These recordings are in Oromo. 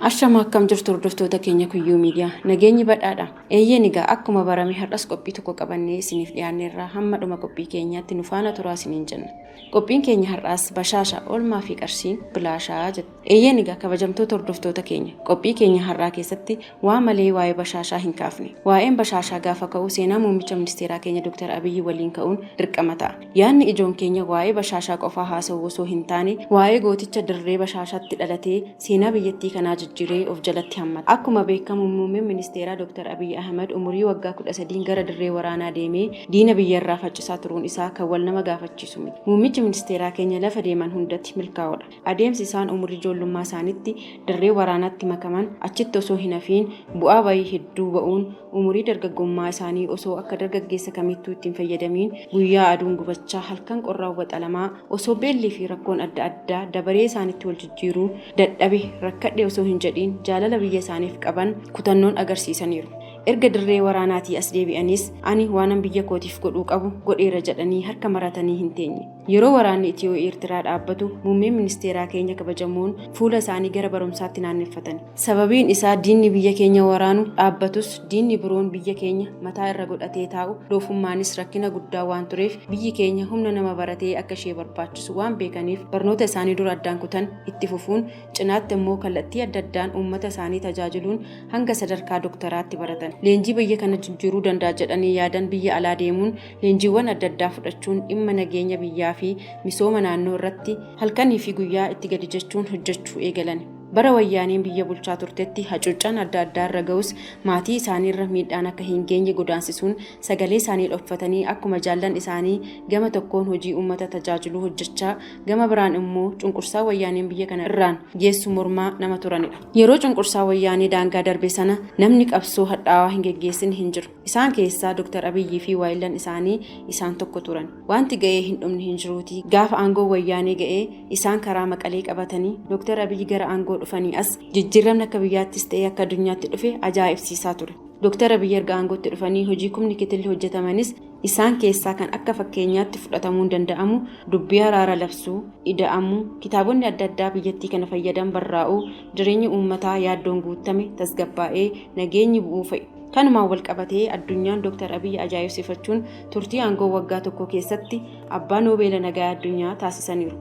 Ashama akkam jirtu hordoftoota keenya kuyyuu miidiyaa nageenyi badhaadha eeyyeen egaa akkuma barame har'as qophii tokko qabannee isiniif dhiyaanneerraa hamma dhuma qophii keenyaatti nu faana turaa isiniin jenna qophiin keenya har'aas bashaasha oolmaa fi qarshiin bilaashaa jette. Eeyyeen egaa kabajamtoota hordoftoota keenya qophii keenya har'aa keessatti waa malee waa'ee bashaashaa hin kaafne. Waa'een bashaashaa gaafa ka'u seenaa muummicha ministeeraa keenya Dr. Abiyyi waliin ka'uun dirqama ta'a. Yaadni ijoon keenya waa'ee bashaashaa qofaa haasa'uu osoo hin taane waa'ee gooticha dirree bashaashaatti dhalatee seenaa biyyattii kanaa jijjiree of jalatti hammata. Akkuma beekamu muummeen ministeeraa Dr. Abiyyi Ahimad umurii waggaa 13n gara dirree waraanaa deemee diina biyya irraa faccisaa turuun isaa kan wal nama gaafachiisu miti. Muummichi ministeeraa keenya lafa deeman hundatti milkaa'oodha. Adeemsi isaan umrii ijoollummaa isaanitti dirree waraanaatti makaman achitti osoo hin hafiin bu'aa bayii hedduu ba'uun umurii dargaggummaa isaanii osoo akka dargaggeessa kamiittuu itti hin fayyadamiin guyyaa aduun gubachaa halkan qorraan waxalamaa osoo beellii fi rakkoon adda addaa dabaree isaanitti wal jijjiiruu dadhabe rakkadhe osoo hin jedhiin jaalala biyya isaaniif qaban kutannoon agarsiisaniiru. Erga dirree waraanaatii as deebi'aniis ani waanan biyya kootiif godhuu qabu godheera jedhanii harka maratanii hin teenye. Yeroo waraanni Itiyoo Eertiraa dhaabbatu muummeen ministeeraa keenya kabajamoon fuula isaanii gara barumsaatti naanneffatani. Sababiin isaa diinni biyya keenya waraanu dhaabbatus diinni biroon biyya keenya mataa irra godhatee taa'u doofummaanis rakkina guddaa waan tureef biyyi keenya humna nama baratee akka ishee barbaachisu waan beekaniif barnoota isaanii dur addaan kutan itti fufuun cinaatti ammoo kallattii adda addaan uummata isaanii tajaajiluun hanga sadarkaa doktaraatti baratan. Leenjii biyya kana jijjiiruu danda'a jedhanii yaadan biyya alaa deemuun leenjiiwwan adda addaa fudhachuun dhimma nageenya biyyaa fi misooma naannoo irratti halkanii fi guyyaa itti gadi jechuun hojjechuu eegalan. Bara wayyaaneen biyya bulchaa turtetti hacuuccaan adda addaa irra ga'us maatii isaaniirra miidhaan akka hin geenye godaansisuun sagalee isaanii dhoffatanii akkuma jaallan isaanii gama tokkoon hojii uummata tajaajiluu hojjechaa gama biraan immoo cunqursaa wayyaaneen biyya kana irraan geessu mormaa nama turanidha. Yeroo cunqursaa wayyaanee daangaa darbe sana namni qabsoo hadhaawaa hin geggeessine hin jiru. Isaan keessaa Dr. Abiyyii fi waayillan isaanii isaan tokko turan. Waanti ga'ee hin dhumne hin jiruutii gaafa aangoon Wayyaanee ga'ee isaan karaa Maqalee qabatanii Dr. Abiyyi gara aangoo dhufanii as jijjiirramni akka biyyaattis ta'ee akka addunyaatti dhufe ajaa'ibsiisaa ture. Dr. Abiyyi erga aangootti dhufanii hojii kumni kitilli hojjetamanis isaan keessaa kan akka fakkeenyaatti fudhatamuun danda'amu dubbii araara labsuu, ida'amuu, kitaabonni adda addaa biyyattii kana fayyadan barraa'uu, jireenyi uummataa yaaddoon guuttame tasgabbaa'ee nageenyi bu'uu fa'i. Kanumaan walqabatee addunyaan Dooktar Abiy ajaa'ibsifachuun turtii aangoo waggaa tokkoo keessatti abbaa Noobeela Nagaa Addunyaa taasisaniiru.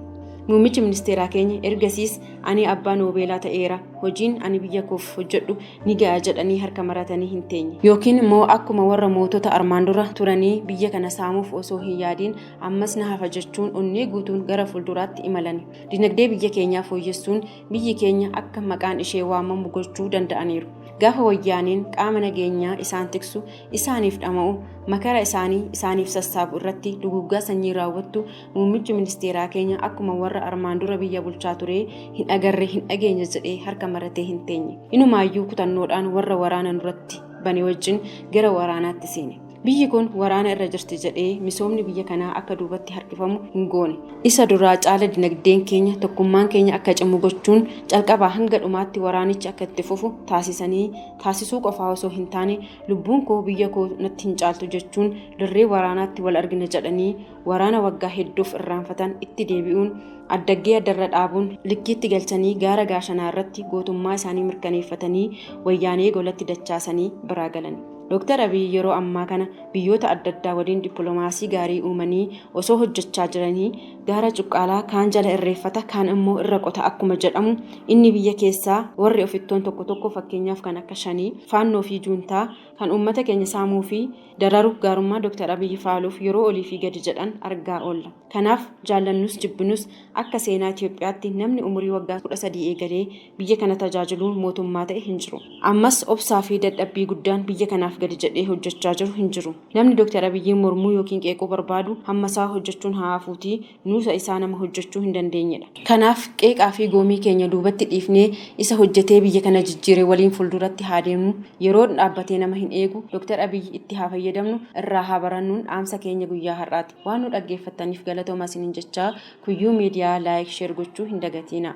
Muummichi ministeeraa keenya ergasiis ani abbaa Noobeelaa ta'eera, hojiin ani biyya koof hojjedhu ni ga'a jedhanii harka maratanii hin teenye. Yookiin immoo akkuma warra mootota armaan dura turanii biyya kana saamuuf osoo hin yaadiin ammas na hafa jechuun onnee guutuun gara fuulduraatti imalani. Dinagdee biyya keenyaa fooyyessuun biyyi keenya akka maqaan ishee waamamu gochuu danda'aniiru. Gaafa wayyaaneen qaama nageenyaa isaan tiksu, isaaniif dhama'u, makara isaanii isaaniif sassaabu irratti duguuggaa sanyii raawwattu muummichi ministeeraa keenya akkuma warra armaan dura biyya bulchaa turee hin agarre hin dhageenye jedhee harka maratee hin teenye. Inumaayyuu kutannoodhaan warra waraana nurratti bane wajjin gara waraanaatti seene. Biyyi kun waraana irra jirti jedhee misoomni biyya kanaa akka duubatti harkifamu hin goone. Isa duraa caala dinagdeen keenya, tokkummaan keenya akka cimu gochuun calqabaa hanga dhumaatti waraanichi akka itti fufu taasisanii taasisuu qofaa osoo hin taane lubbuun koo biyya koo natti hin caaltu jechuun dirree waraanaatti wal argina jedhanii waraana waggaa hedduuf irraanfatan itti deebi'uun addaggee addarra dhaabuun likkiitti galchanii gaara gaashanaa irratti gootummaa isaanii mirkaneeffatanii wayyaanee golatti dachaasanii biraa galan. Dooktar Abiy yeroo ammaa kana biyyoota adda addaa waliin dippiloomaasii gaarii uumanii osoo hojjechaa jiranii gaara cuqqaalaa kaan jala irreeffata kaan immoo irra qota akkuma jedhamu inni biyya keessaa warri ofittoon tokko tokko fakkeenyaaf kan akka shanii faannoo fi juuntaa kan uummata keenya saamuu fi dararu gaarummaa Dooktar Abiy faaluuf yeroo olii fi gadi jedhan argaa oolla. Kanaaf jaallannus jibbinus akka seenaa Itoophiyaatti namni umurii waggaa 13 eegalee Biyya kana tajaajiluun mootummaa ta'e hin jiru. Ammas obsaa fi dadhabbii guddaan biyya kanaaf gadi jedhee hojjechaa jiru hin jiru. Namni Dr. Abiyyiin mormuu ykn qeequu barbaadu hammasaa hojjechuun haa hafuutii nuusa isaa nama hojjechuu hin dandeenyedha. Kanaaf qeeqaa fi goomii keenya duubatti dhiifnee isa hojjetee biyya kana jijjiire waliin fulduratti haa deemnu. Yeroon dhaabbatee nama hin eegu. Dr. Abiyyi itti haa fayyadamnu, irraa haa barannuun dhaamsa keenya guyyaa har'aati. Waan nu dhaggeeffattaniif galatoomaa isiniin jechaa Kuyyuu Media like, share gochuu hin dagatiinaa.